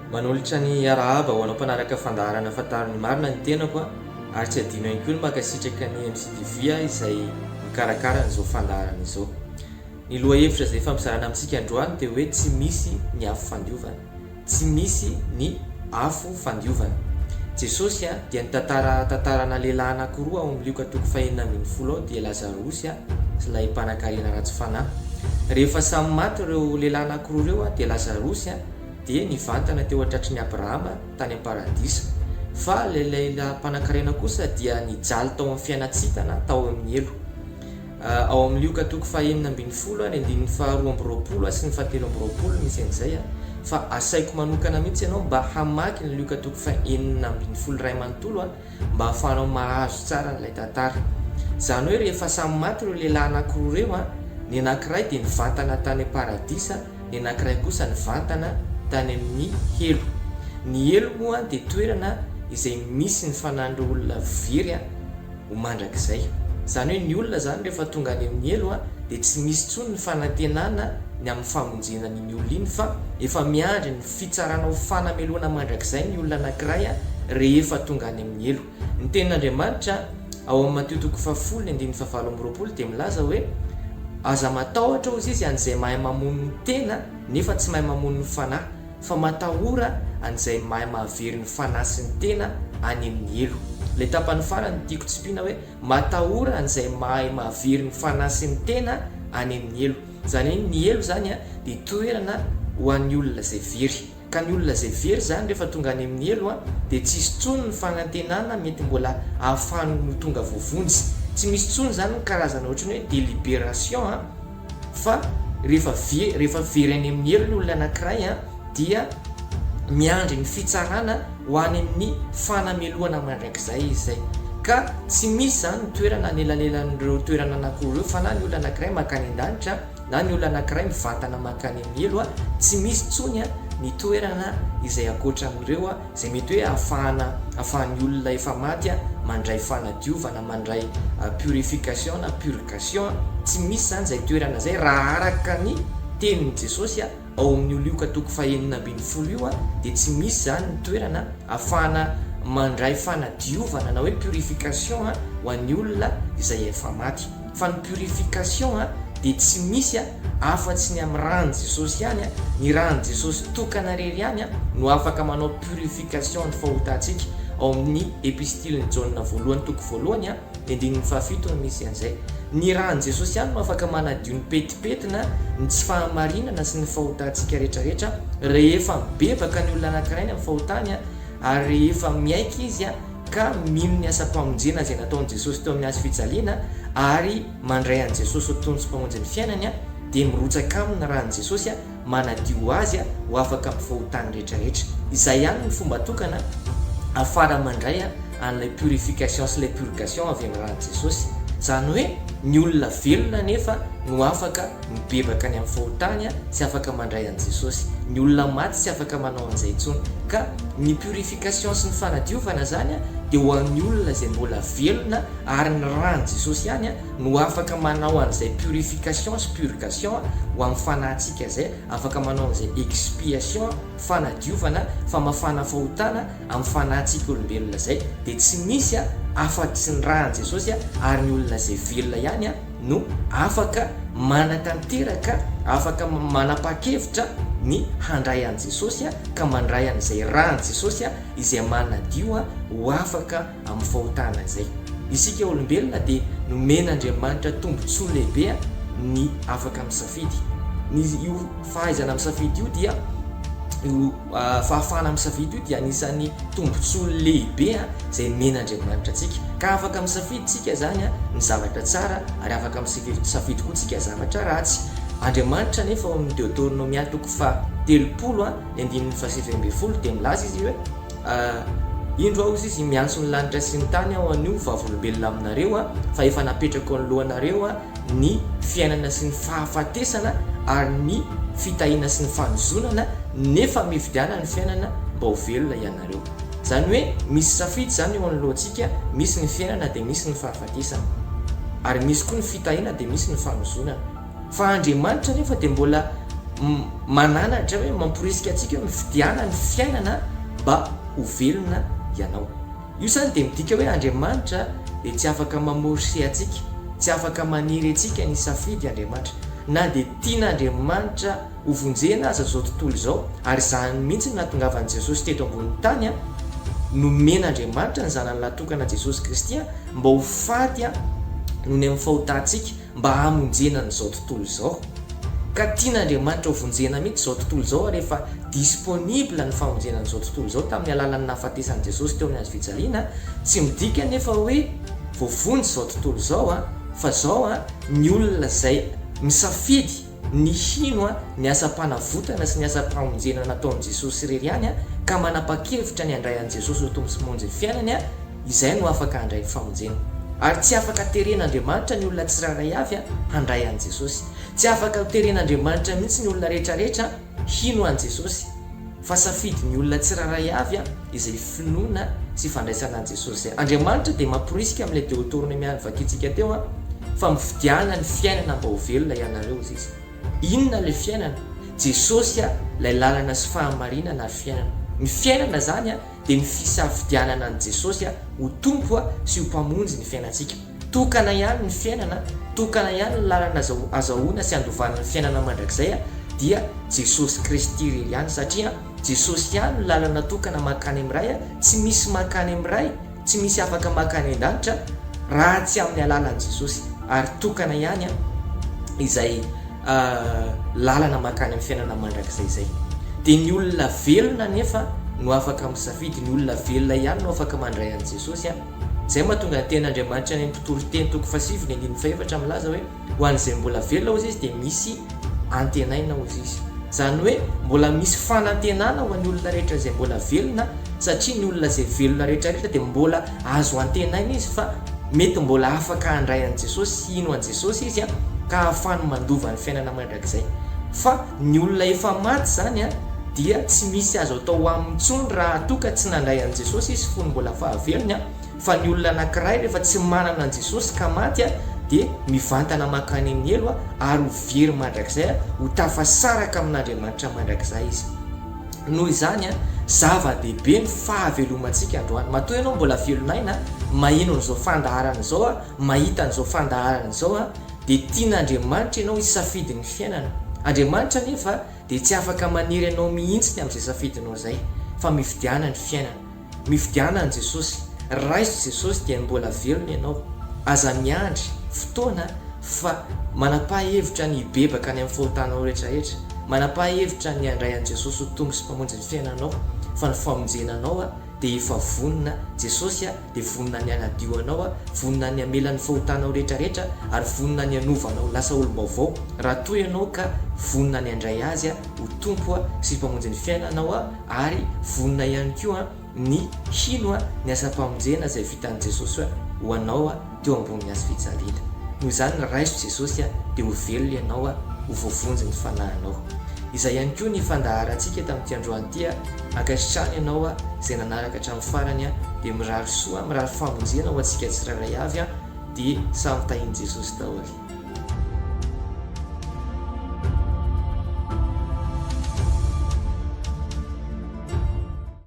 Manolotra ny arahaba ho anao mpanaraka fandaharana Fantaro ny marina ny tenako a! ary tsy adino ihany koa ny mankasitraka ny MCTV a! izay mikarakara an'izao fandaharana izao. Ny lohahevitra izay ifampizarana amintsika androany dia hoe tsy misy ny afo fandiovana. Tsy misy ny afo fandiovana. Jesosy a! dia nitantara tantara ana lehilahy anakiroa ao amin'ny Lioka toko fahenina ambin'ny folo ao dia Lazarosy a! Ilay mpanankarena ratsy fanahy. Rehefa samy maty ireo lehilahy anankiroa ireo dia Lazarosy dia nivantana teo an-tratry ny Abrahama tany am-paradisa. Fa ilay lehilahy mpanankarena kosa dia nijaly tao amin'ny fiainan-tsintana tao amin'ny helo. Ao amin'ny Lioka toko fahenina ambin'ny folo ny andininy faharoa amby roapolo sy ny fahatelo amby roapolo no misy an'izay. Fa asaiko manokana mihitsy ianao mba hamaky ny Lioka toko fahenina ambin'ny folo iray manontolo. Mba ahafahanao mahazo tsara an'ilay tantara. Izany hoe rehefa samy maty ireo lehilahy anankiroa ireo, ny anankiray dia nivantana tany am-paradisa, ny anankiray kosa nivantana tany amin'ny helo. Ny helo moa dia toerana izay misy ny fanan'ireo olona very ho mandrakizay. Izany hoe ny olona izany rehefa tonga any amin'ny helo dia tsy misy intsony ny fanantenana ny amin'ny famonjena an'iny olona iny fa efa miandry ny fitsarana ho fanamelohana mandrakizay ny olona anankiray rehefa tonga any amin'ny helo. Ny Tenin'Andriamanitra, ao amin'ny Matio toko fahafolo ny andininy fahavalo amby roapolo, dia milaza hoe, Aza matahotra, hozy Izy, an'izay mahay mamono ny tena nefa tsy mahay mamono ny fanahy, fa matahora an'izay mahay mahavery ny fanahy sy ny tena any amin'ny helo. Ilay tapany farany tiako tsipina hoe, Matahora an'izay mahay mahavery ny fanahy sy ny tena any amin'ny helo. Izany hoe ny helo izany dia toerana ho an'ny olona izay very. Ka ny olona izay very izany rehefa tonga any amin'ny helo dia tsy hisy tsony ny fanantenana mety mbola ahafahany ho tonga voavonjy. Tsy misy tsony izany ny karazana ohatran'ny hoe deliberation fa rehefa very any amin'ny helo ny olona anankiray. dia miandry ny fitsarana ho any amin'ny fanamelohana mandrakizay izy izay ka tsy misy izany ny toerana anelanelan'ireo toerana anankiroa ireo fa na ny olona anankiray mankany an-danitra na ny olona anankiray mivantana mankany amin'ny helo a tsy misy intsony a ny toerana izay ankoatra an'ireo a izay mety hoe ahafahana ahafahan'ny olona efa maty a mandray fanadiovana mandray purification na purgation a tsy misy izany izay toerana izay raha araka ny tenin'i Jesosy a Ao amin'io lioka toko fahenina ambin'ny folo io dia tsy misy izany ny toerana afahana mandray fanadiovana na hoe purification ho an'ny olona izay efa maty. Fa ny purification dia tsy misy afa-tsy ny amin'ny ran'i Jesosy ihany, ny ran'i Jesosy tokana irery ihany no afaka manao purification ny fahotantsika. Ao amin'ny epistilin'i Jaona voalohany toko voalohany. Ny andininy fahafito no misy an'izay. Ny ran'i Jesosy ihany no afaka manadio ny petipetina, ny tsy fahamarinana sy ny fahotantsika rehetrarehetra. Rehefa mibebaka ny olona anankiray any amin'ny fahotany ary rehefa miaiky izy ka mino ny asam-pamonjena izay nataon'i Jesosy teo amin'ny hazo fijaliana ary mandray an'i Jesosy ho Tompo sy Mpamonjy ny fiainany dia mirotsaka aminy ny ran'i Jesosy manadio ho azy ho afaka amin'ny fahotany rehetrarehetra. Izay ihany ny fomba tokana afara mandray an'ilay purification sy ilay purgation avy amin'ny ran'i Jesosy. Izany hoe ny olona velona anefa no afaka mibebaka any amin'ny fahotany sy afaka mandray an'i Jesosy. Ny olona maty tsy afaka manao an'izay intsony. Ka ny purification sy ny fanadiovana izany dia ho an'ny olona izay mbola velona ary ny ran'i Jesosy ihany no afaka manao an'izay purification sy purgation ho amin'ny fanahintsika izay, afaka manao an'izay expiation, fanadiovana, famafana fahotana, amin'ny fanahintsika olombelona izay, dia tsy misy afa-tsy ny ran'i Jesosy ary ny olona izay velona ihany no afaka manatanteraka, afaka manapa-kevitra ny handray an'i Jesosy ka mandray an'izay ran'i Jesosy izay manadio ho afaka amin'ny fahotana izay. Isika olombelona dia nomen'Andriamanitra tombontsoa lehibe ny afaka misafidy. Ny io fahaizana misafidy io dia io fahafahana misafidy io dia anisan'ny tombontsoa lehibe izay nomen'Andriamanitra antsika. Ka afaka misafidy isika izany ny zavatra tsara ary afaka misafidy koa isika zavatra ratsy. Andriamanitra anefa ao amin'ny Deoteronomia toko faha telopolo ny andininy fahasivy ambin'ny folo dia milaza izy hoe. Ah, indro aho hozy izy miantso ny lanitra sy ny tany aho anio vavolombelona aminareo ah, fa efa napetrako anoloanareo ah, ny fiainana sy ny fahafatesana ary ny fitahiana sy ny fanozonana nefa mividiana ny fiainana mba ho velona ianareo. Izany hoe misy safidy izany eo anoloantsika, misy ny fiainana dia misy ny fahafatesana. Ary misy koa ny fitahiana dia misy ny fanozonana. Fa Andriamanitra anefa dia mbola mananatra hoe mamporisika antsika hoe mifidiana ny fiainana mba ho velona ianao. Io izany dia midika hoe Andriamanitra dia tsy afaka mamorse antsika, tsy afaka maniry antsika ny hisafidy Andriamanitra. Na dia tian'Andriamanitra ho vonjena aza izao tontolo izao, ary izany mihitsy no nahatongavan'i Jesosy teto ambonin'ny tany, nomen'Andriamanitra ny Zanany lahy tokana Jesosy Kristy mba ho faty nony amin'ny fahotantsika, mba hamonjena an'izao tontolo izao, ka tian'Andriamanitra ho vonjena mihitsy izao tontolo izao ary efa disponible ny famonjena an'izao tontolo izao tamin'ny alalan'ny nahafatesan'i Jesosy teo amin'ny hazo fijaliana, tsy midika anefa hoe voavonjy izao tontolo izao fa izao ny olona izay misafidy ny hino ny asam-panavotana sy ny asam-pamonjena nataon'i Jesosy irery ihany ka manapa-kevitra ny handray an'i Jesosy ho Tompo sy Monjin'ny fiainany, izay no afaka handray ny famonjena. Ary tsy afaka teren'Andriamanitra ny olona tsirairay avy handray an'i Jesosy. Tsy afaka ho teren'Andriamanitra mihitsy ny olona rehetrarehetra. Hino an'i Jesosy, fa safidin'ny olona tsirairay avy izay finoana sy ifandraisana an'i Jesosy izay. Andriamanitra dia mamporisika amin'ilay Deotornemy vakintsika teo fa mifidiana ny fiainana mba ho velona ianareo, hoy Izy. Inona ilay fiainana? Jesosy ilay lalana sy fahamarinana ary fiainana. Ny fiainana izany dia ny fisafidianana an'i Jesosy ho Tompo sy ho Mpamonjy ny fiainantsika. Tokana ihany ny fiainana, tokana ihany ny lalana azahoana sy andovana ny fiainana mandrakizay dia Jesosy Kristy irery ihany satria Jesosy ihany no lalana tokana mankany amin'ny Ray, tsy misy mankany amin'ny Ray, tsy misy afaka mankany an-danitra raha tsy amin'ny alalan'i Jesosy ary tokana ihany izay lalana mankany amin'ny fiainana mandrakizay izay. Dia ny olona velona anefa no afaka misafidy, ny olona velona ihany no afaka mandray an'i Jesosy. Izay no mahatonga ny tenin' Andriamanitra any amin'ny mpitory teny toko fahasivy ny andininy fahefatra milaza hoe ho an'izay mbola velona hozy izy dia misy antenaina hozy izy. Izany hoe mbola misy fanantenana ho an'ny olona rehetra izay mbola velona satria ny olona izay velona rehetrarehetra dia mbola azo antenaina izy fa mety mbola afaka handray an'i Jesosy sy hino an'i Jesosy izy ka ahafahany mandova ny fiainana Izay. Fa ny olona efa maty izany an, dia tsy misy azo atao aminy intsony raha toa ka tsy nandray an'i Jesosy izy fony mbola fahavelony an, fa ny olona anankiray rehefa tsy manana an'i Jesosy ka maty an, dia mivantana mankany amin'ny helo an, ary ho very mandrakizay an, ho tafasaraka amin'Andriamanitra mandrakizay izy. Noho izany an, zava-dehibe ny fahavelomantsika androany. Matoa ianao mbola velon'aina an, maheno an'izao fandaharana izao an, mahita an'izao fandaharana izao an, dia tian'Andriamanitra ianao hisafidy ny fiainana. Andriamanitra anefa dia tsy afaka manery anao mihitsy amin'izay safidinao izay, fa mifidiana ny fiainana. Mifidiana an'i Jesosy. Raiso Jesosy dia mbola velona ianao. Aza miandry fotoana fa manam-pahahevitra ny hibebaka any amin'ny fahotanao rehetrarehetra. Manam-pahahevitra ny handray an'i Jesosy ho Tompo sy Mpamonjy ny fiainanao, fa ny famonjena anao dia efa vonona. Jesosy a! dia vonona ny hanadio anao aho, vonona ny hamela ny fahotanao rehetra rehetra, ary vonona ny hanova anao ho lasa olom-baovao, raha toa ianao ka vonona ny handray Azy ho Tompo sy Mpamonjy ny fiainanao aho, ary vonona ihany koa ny hino ny asam-pamonjena izay vitan'i Jesosy ho anao. teo ambony hazo fijaliana. Noho izany raiso Jesosy a, dia ho velona ianao a, ho voavonjy ny fanahinao. Izay ihany koa ny fandaharantsika tamin'ity androany ity a, ankasitrahana ianao a, izay nanaraka hatramin'ny farany a, dia mirary soa, mirary famonjena ho antsika tsirairay avy a, dia samy tahin'i Jesosy daholo.